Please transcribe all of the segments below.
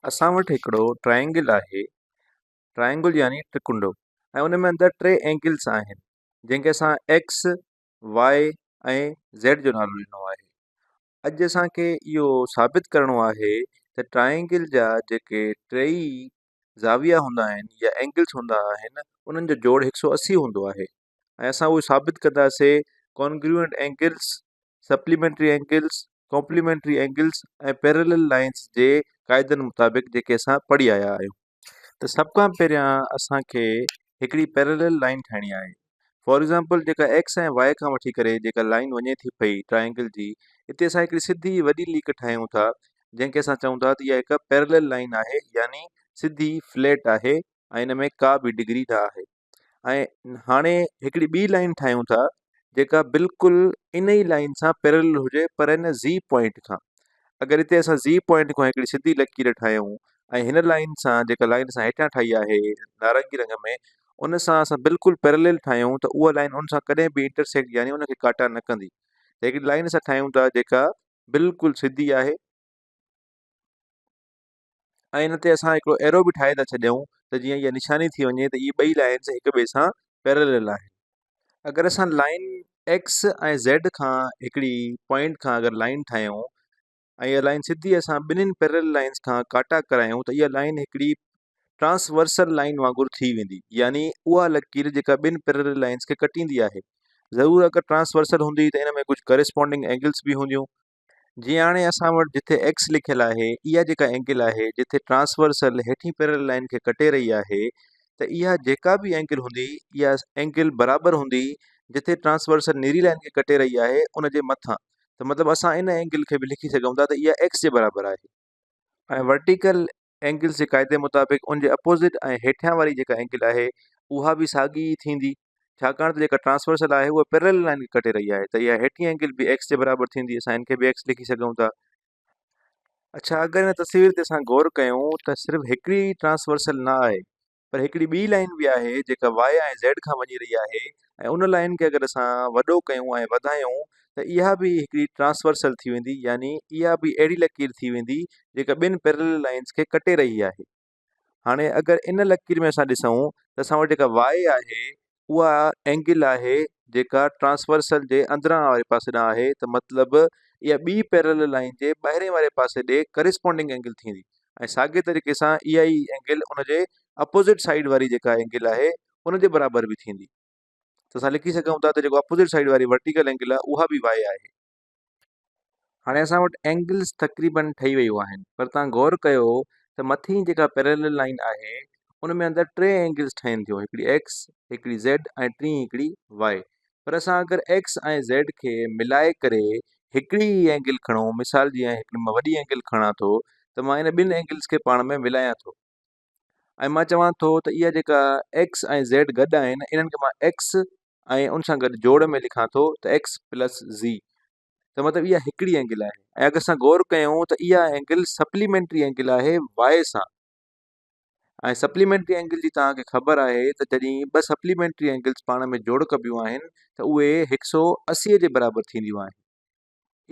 اسان وٽ هڪڙو ٽرائينگل آهي ٽرائينگل يعني ٽرڪنڊو ۽ ان ۾ اندر ٽي اينگلس آهن جنهن کي اسان ايڪس واء ۽ زيڊ جو نالو ڏنو آهي اڄ اسانکي اهو ثابت ڪرڻو آهي ته ٽرائينگل جا جيڪي ٽيئي زاويا هوندا آهن يا اينگلس هوندا آهن انهن جو جوڙ هڪ سو اسي هوندو آهي ۽ اسان اهو ثابت ڪنداسي Congruent Angles Supplementary Angles Complementary Angles ۽ Parallel Lines جي قاعدن مطابق جيڪي اسان پڙهي آيا آهيون ته سڀ کان پهريان اسانکي هڪڙي Parallel Line ٺاهڻي آهي For Example جيڪا X ۽ Y کان وٺي ڪري جيڪا لائين وڃي ٿي پئي Triangle جي اتي اسان هڪڙي سڌي وڏي ليڪ ٺاهيون ٿا جنهن کي اسان چئون ٿا ته اها هڪ Parallel Line آهي يعني سڌي Flat آهي ۽ ان ۾ ڪا به ڊگري نه آهي ۽ هاڻي هڪڙي ٻي لائين ٺاهيون ٿا جيڪا بلڪل ان ئي لائين سان پيرلل هجي پر ان زي پوائنٽ کان اگر هتي اسان زي پوائنٽ کان هڪڙي سڌي لڪير ٺاهيون ۽ هن لائين سان جيڪا لائين اسان هيٺيان ٺاهي آهي نارنگي رنگ ۾ ان سان اسان بلڪل پيرلل ٺاهيون ته اها لائين ان سان ڪڏهن به انٽرسيڪٽ يعني ان کي ڪاٽا نه ڪندي ته هڪڙي لائين اسان ٺاهيون ٿا جيڪا بلڪل سڌي آهي ۽ ان تي اسان هڪڙو ايرو به ٺاهي ٿا ڇڏيون ته جيئن اها نشاني ٿي وڃي ته اهي ٻئي لائنس هڪ ٻئي سان پيرلل آهن اگر اسان لائن ايڪس ۽ زيڊ کان هڪڙي پوائنٽ کان اگر لائن ٺاهيون ۽ اها لائن سڌي اسان ٻنهين پيرلل لائنس کان ڪاٽا ڪرايون ته اها لائن هڪڙي ٽرانسورسل لائن وانگر ٿي ويندي يعني اها لڪير جيڪا ٻن پيرلل لائنس کي ڪٽيندي آهي ضرور اگر ٽرانسورسل هوندي ته ان ۾ ڪجهه ڪريسپونڊنگ اينگلس به هونديون جيئن هاڻي اسان وٽ جتي ايڪس لکيل آهي اها جيڪا اينگل آهي جتي ٽرانسورسل هيٺين پيرل لائين کي ڪٽي رهي آهي ته اها جيڪا به اينگل هوندي اها اينگل برابر هوندي جتي ٽرانسورسل نيري لائين کي ڪٽي رهي آهي ان جي مٿان ته مطلب اسان ان اينگل کي به لکي سگهون ٿا ته اها ايڪس جي برابر آهي ۽ ورٽيڪل اينگلز جي قاعدي مطابق ان جي اپوزٽ ۽ هيٺيان واري جيڪا اينگل آهي اها به ساڳي ئي ٿيندي ڇاڪاڻ ته جيڪا ٽرانسورسل آهي اها پيرلل لائين کي ڪٽي رهي آهي ته اها هيٺين اينگل به ايڪس جي برابر ٿيندي اسان ان کي به ايڪس لکي سگهون ٿا اڇا اگر ان تصوير تي اسان غور ڪيون ته صرف هڪڙي ئي ٽرانسورسل نه آهي پر هڪڙي ٻي لائين به آهي جيڪا واء ۽ زيڊ کان وڃي رهي آهي ۽ ان لائين کي اگر اسان وڏو ڪيون ۽ وڌايون ته اها به هڪڙي ٽرانسورسل ٿي ويندي يعني اها به اهڙي لڪير ٿي ويندي جيڪا ٻن پيرلل لائنز کي ڪٽي رهي آهي هاڻي اگر ان لڪير ۾ اسان ڏسون ته اسان وٽ جيڪا واء آهي اها اينگل آهي جيڪا ٽرانسورسل جي اندران واري پاسي ڏانهن آهي ته مطلب اها ٻي پيرلل لائين جي ٻاهرين واري پاسي ڏي ڪريسپونڊنگ اينگل ٿيندي ۽ ساڳي طريقي سان اها ئي اينگل ان جي اپوزٽ سائيڊ واري جيڪا اينگل آهي ان جي برابر به ٿيندي ته اسان لکي سگهون ٿا ته جيڪو اپوزٽ سائيڊ واري ورٽيڪل اينگل آهي اها به واء آهي هاڻي اسان وٽ اينگلز تقريبن ٺهي ويون آهن پر توهان غور ڪيو ته مٿين جيڪا پيرلل لائين آهي ان ۾ اندر ٽي اينگلز ٺهن ٿيون هڪڙي ايڪس هڪڙي زيڊ ۽ ٽين هڪڙي واء پر اسان اگر ايڪس ۽ زيڊ کي ملائي ڪري هڪڙي ئي اينگل کڻون مثال جي آء هڪڙي مان وڏي اينگل کڻان ٿو ته مان ان ٻن اينگلز کي پاڻ ۾ ملايان ٿو ۽ مان چوان ٿو ته اها جيڪا ايڪس ۽ زيڊ گڏ آهن انهن کي مان ايڪس ۽ ان سان گڏ جوڙ ۾ لکان ٿو ته ايڪس پلس زي ته مطلب اها هڪڙي اينگل آهي ۽ اگر اسان غور ڪيون ته اها اينگل سپليمينٽري اينگل آهي واء سان ۽ سپليمينٽري اينگل جي توهان کي خبر آهي ته جڏهن ٻه سپليمينٽري اينگلس پاڻ ۾ جوڙ ڪبيون آهن ته اهي هڪ سو اسي جي برابر ٿينديون آهن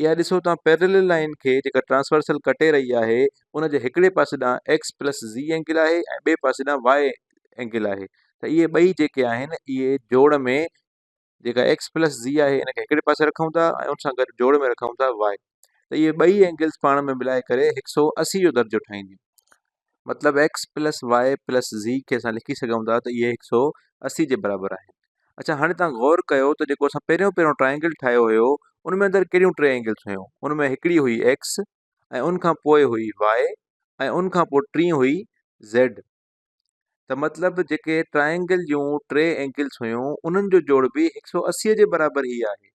اها ڏسو ته پيرلل لائين کي جيڪا ٽرانسورسل ڪٽي رهي آهي ان جي هڪڙي پاسي ڏانهن ايڪس پلس زي اينگل آهي ۽ ٻئي پاسي ڏانهن واء اينگل آهي ته اهي ٻئي جيڪي آهن اهي جوڙ ۾ جيڪا ايڪس پلس زي آهي ان کي هڪڙي پاسي رکون ٿا ۽ ان سان گڏ جوڙ ۾ رکون ٿا واء ته اهي ٻئي اينگلس پاڻ ۾ ملائي ڪري هڪ سو اسي جو درجو ٺاهينديون مطلب x plus y plus z کي اسان لکي سگهون ٿا ته اهي هڪ سؤ اسي جي برابر آهن اڇا هاڻي تان غور ڪيو ته جيڪو اسان پهريون پهريون ٽرائنگل ٺاهيو هيو ان ۾ اندر ڪهڙيون ٽي اينگلس هيون ان ۾ هڪڙي هئي x ۽ ان کان پوء هئي y ۽ ان کان پوء ٽي هئي زيڊ ته مطلب جيڪي ٽرائنگل جون ٽي اينگلس هيون انهن جو جوڙ به هڪ سؤ اسي جي برابر هي آهي